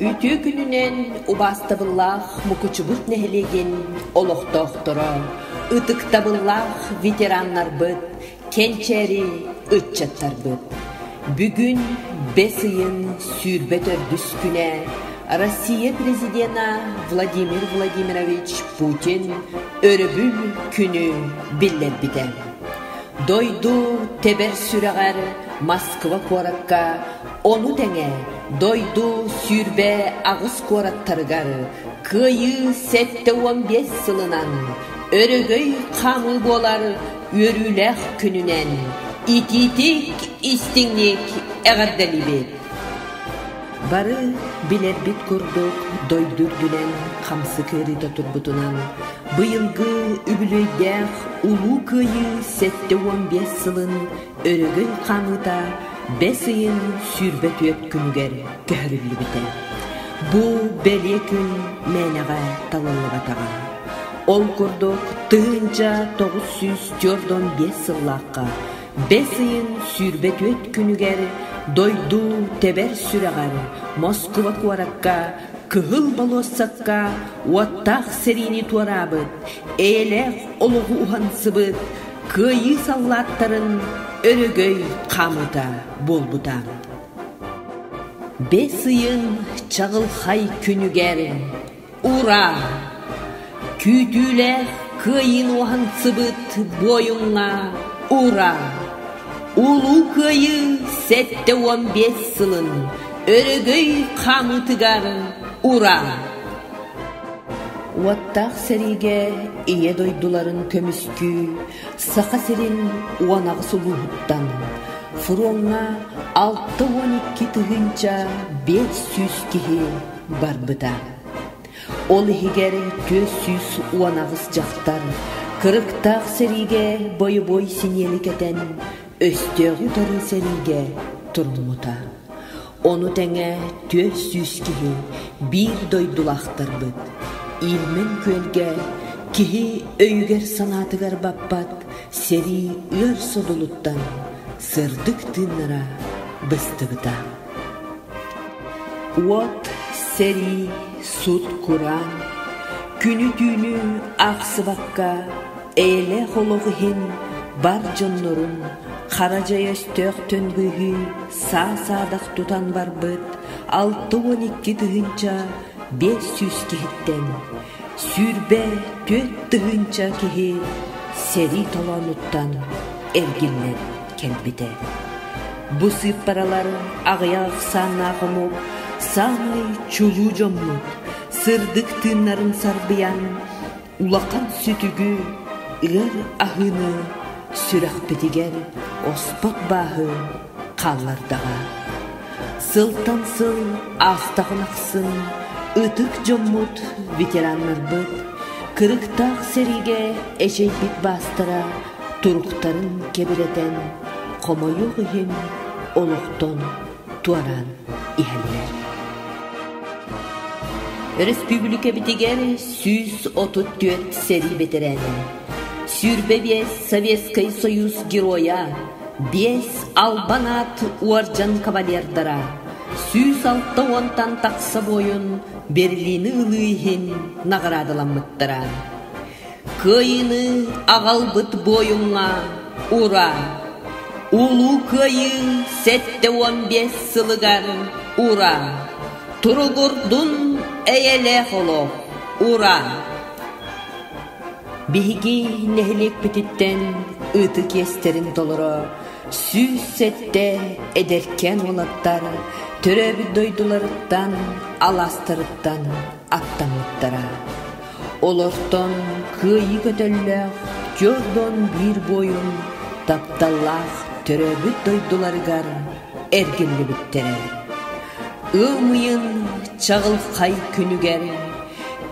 Үтүө күнүнэн убаастабыллаах Мукучубут нэһилиэгин олохтоохторо, ытыктабыллаах ветераннарбыт, Кэнчээри ыччаттарбыт, бүгүн бэс ыйын сүүрбэ төрдүскүнэ Россия Президенэ Владимир Владимирович Путин өрөбүл күнү биллэрбитэ. Дойду тэбэр сүрэҕэр Москва куоракка, ону тэҥэ дойду сүүрбэ аҕыс куораттарыгар кыайыы сэттэ уон биэс сылынан өрөгөй хаамыы буолар үөрүүлээх күнүнэн итиитик, истиҥник эҕэрдэлиибит! Бары билэрбит курдук дойду үрдүнэн хамсык ыарыыта турбутунан быйылгы үбүлүөйдээх Улуу Кыайыы сэттэ уон биэс сылын өрөгөй хаамыыта бэс ыйын сүүрбэ түөрт күнүгэр көһөрүллүбүтэ. Бу бэлиэ күн мээнэҕэ талыллыбатаҕа. Ол курдук, тыһыынча тоҕус сүүс түөрт уон биэс сыллаахха бэс ыйын сүүрбэ түөрт күнүгэр дойду тэбэр сүрэҕэр Москуба куоракка кыһыл болуоссакка уоттаах сэриини туораабыт, эйэлээх олоҕу уһансыбыт кыайыы саллааттарын өрөгөй хаамыыта буолбута. Бэс ыйын чаҕылхай күнүгэр Ураа! Күүтүүлээх кыайыын уһансыбыт буойуҥҥа ураа! Улуу кыайыы сэттэ уон биэс сылын өрөгөй хаамыытыгар ураа! Уоттаах сэриигэ ийэ дойдуларын көмүскүү Саха сирин уон аҕыс улууһуттан фроҥҥа алта уон икки тыһыынча биэс сүүс киһи барбыта. Ол иһигэр түөрт сүүс уон аҕыс дьахтар кырыктаах сэриигэ бойобуой синиэли кэтэн өстөөҕү-утары сэриигэ туруммута. Ону тэҥэ түөрт сүүс киһи биир дойдулаахтарбыт Ильмень күөлгэ киһи өйүгэр-санаатыгар баппат сэрии ыар содулуттан сырдык тыыннара быстыбыта. Уот сэрии, сут-кураан, күнү-түүнү аахсыбакка эйэлээх олох иһин бар дьоннорун хара дьайа өстөөхтөн быыһыы саа-саадах тутан барбыт алта уон икки тыһыынча биэс сүүс киһиттэн сүүрбэ түөрт тыһыынча киһи сэрии толоонуттан эргиллэр. кэлбитэ. Бу сыыппаралар аҕыйах ахсааннаах омук саамай чулуу дьоммут, сырдык тыыннарын сарбыйан, улахан сүтүгү, ыар аһыыны сүрэхпитигэр оспот бааһы хааллардаҕа. Сылтан сыл аахтаҕын ахсын ытык дьоммут, ветераннарбыт кырыктаах сэриигэ эчэйбит баастара туруктарын кэбирэтэн, хомойуох иһин, олохтон туораан иһэллэр. Өрөспүүбүлүкэбитигэр сүүс отут түөрт сэрии бэтэрээнэ, сүүрбэ биэс Советскай Союз Геройа, биэс албан аат уордьан кавалердара, сүүс алта уонтан тахса буойун Берлины ылыы иһин наҕараадаламмыттара. Кыайыыны аҕалбыт буойуҥҥа ураа! Улуу Кыайыы сэттэ уон биэс сылыгар ураа! Туругурдун эйэлээх олох! Ураа! Биһиги нэһилиэкпититтэн ытык иэстэрин толоро сүүс сэттэ эдэркээн уолаттар төрөөбүт дойдуларыттан, алаастарыттан аттаммыттара. Олортон кыайыы көтөллөөх Джордон биир буойун тапталлаах төрөөбүт дойдуларыгар эргиллибиттэрэ. Ымыйын чаҕылхай күнүгэр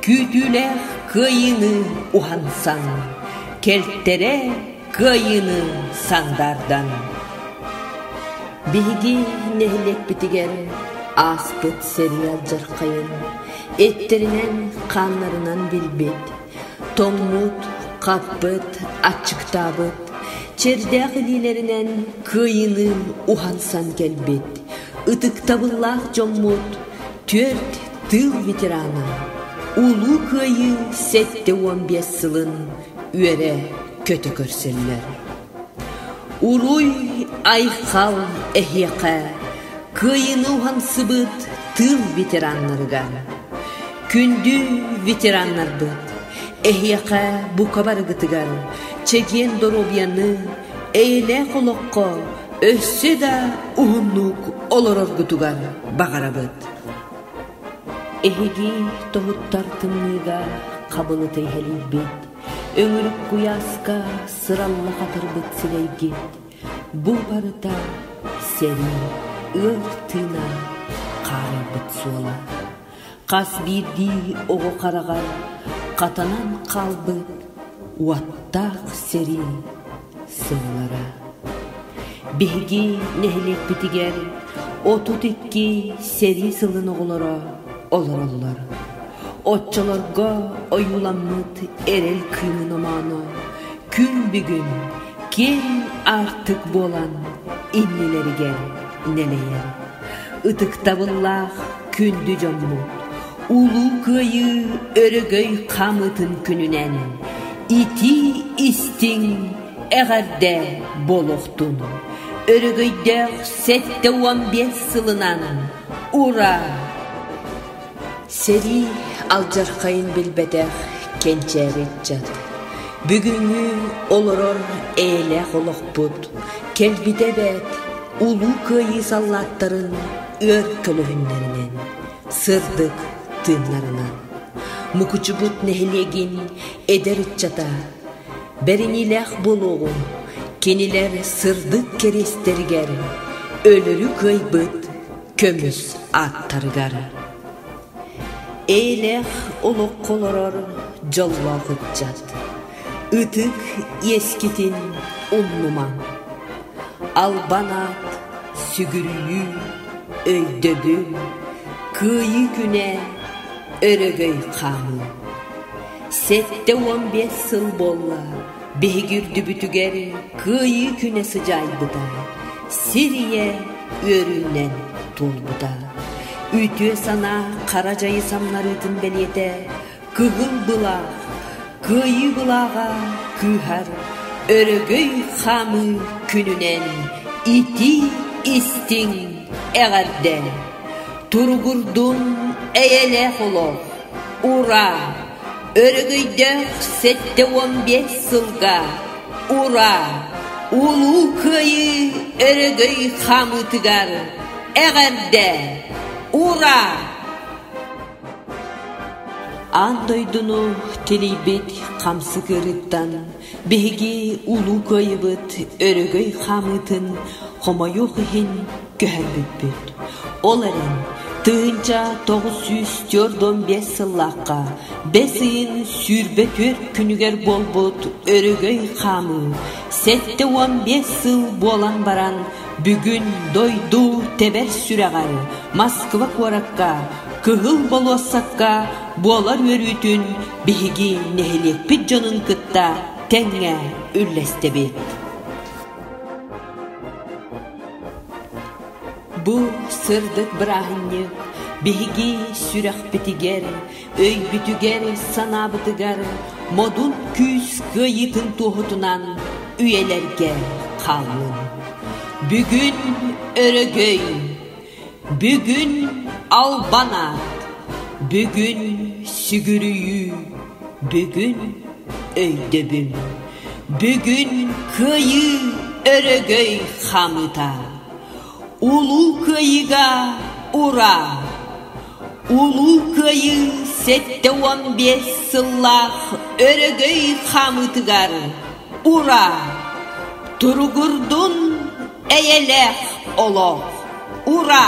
күүтүүлээх кыайыыны уһансан кэлтэрэ Кыайыыны сандаардан Биһиги нэһилиэкпитигэр ааспыт сериал дьархайын эттэринэн хааннарынан билбит, тоҥмут, хаппыт, аччыктаабыт, чэрдээх илиилэринэн кыайыыны уһансан кэлбит ытыктабыллаах дьоммут түөрт тыыл ветерана Улуу Кыайыы сэттэ уон биэс сылын үөрэ көтө көрсөллөр Уруй, айхал эһиэхэ кыайыны уһансыбыт тыыл ветераннарыгар күндү ветераннарбыт эһиэхэ бука барыгытыгар чэгиэн доруобуйаны эйэлээх олоххо өссө да уһуннук олороргутугар баҕарабыт Эһиги тоһуттар тымныыга хабылыта иһэлийбит, өҥүрүк куйааска сыралла хатырбыт сирэйгит, бу барыта сэрии, ыар тыына хаарыйбыт суола. Хас биирдии оҕо хараҕар хатанан хаалбыт уоттаах сэрии сыллара биһиги нэһилиэкпитигэр отут икки сэрии сылын оҕолоро олороллор оччолорго ойууламмыт эрэл кыымын омооно күн бүгүн киэҥ аартык буолан иннилэригэр нэлэйэр ытыктабыллаах күндү дьоммут Улуу Кыайыы өрөгөй хаамыытын күнүнэн итии-истиҥ, эҕэрдэ буолуохтун! Өрөгөйдөөх сэттэ уон биэс сылынан ура! Сэрии алдьархайын билбэтэх кэнчээбит дьон бүгүҥҥү олорор эйэлээх олохпут кэлбитэ эбээт Улуу Кыайыы саллааттарын ыар көлөһүннэринэн Сырдык тыыннарынан Мукучубут нэһилиэгин эдэр ыччата бэриниилээх буолуоҕуҥ, кинилэр сырдык кэриэстэригэр өлөрү кыайбыт көмүс ааттарыгар эйэлээх олоххо олорор дьоллоох ыччат Ытык иэскитин умнумаҥ, албан аат, сүгүрүйүү, өйдөбүл, кыайыы күнэ, өрөгөй хаамыы. Сэттэ уон биэс сыл буолла биһиги үрдүбүтүгэр кыайыы күнэ сыдьаайбыта, сир ийэ үөрүүнэн туолбута. Үтүө санаа хара дьайы самнарыытын бэлиэтэ Кыгыл былаах Кыайыы былааҕа кыыһар Өрөгөй хаамыы күнүнэн Итии-истиҥ эҕэрдэ Туругурдун эйэлээх олох Ураа! Өрөгөйдөөх сэттэ уон биэс сылга Ураа! Улуу Кыайыы өрөгөй хаамыытыгар эҕэрдэ! Ураа! Аан дойдуну тилийбит хамсыгырыттан биһиги Улуу Кыайыбыт өрөгөй хаамыытын хомойуох иһин көһөрбүппүт. Ол эрэн тыһыынча тоҕус сүүс төрт уон биэс сыллаахха бэс ыйын сүүрбэ түөрт күнүгэр буолбут өрөгөй хаамыы сэттэ уон биэс сыл буолан баран Бүгүн дойду тэбэр сүрэҕэр Москва куоракка, кыһыл болуоссакка буолар үөрүүтүн биһиги нэһилиэкпит дьонун кытта тэҥҥэ үллэстэбит. Бу сырдык бырааһынньык биһиги сүрэхпитигэр өйбүтүгэр-санаабытыгар модун күүс кыайыытын туоһутунан үйэлэргэ хаалыын. Бүгүн өрөгөй, бүгүн албанаат, бүгүн сүгүрүйүү, бүгүн өйдөбүл, бүгүн кыайыы өрөгөй хаамыыта. Улуу Кыайыыга ура! Улуу Кыайыы сэттэ уон биэс сыллаах өрөгөй хаамыытыгар ура! Туругурдун эйэлээх олох! Ура!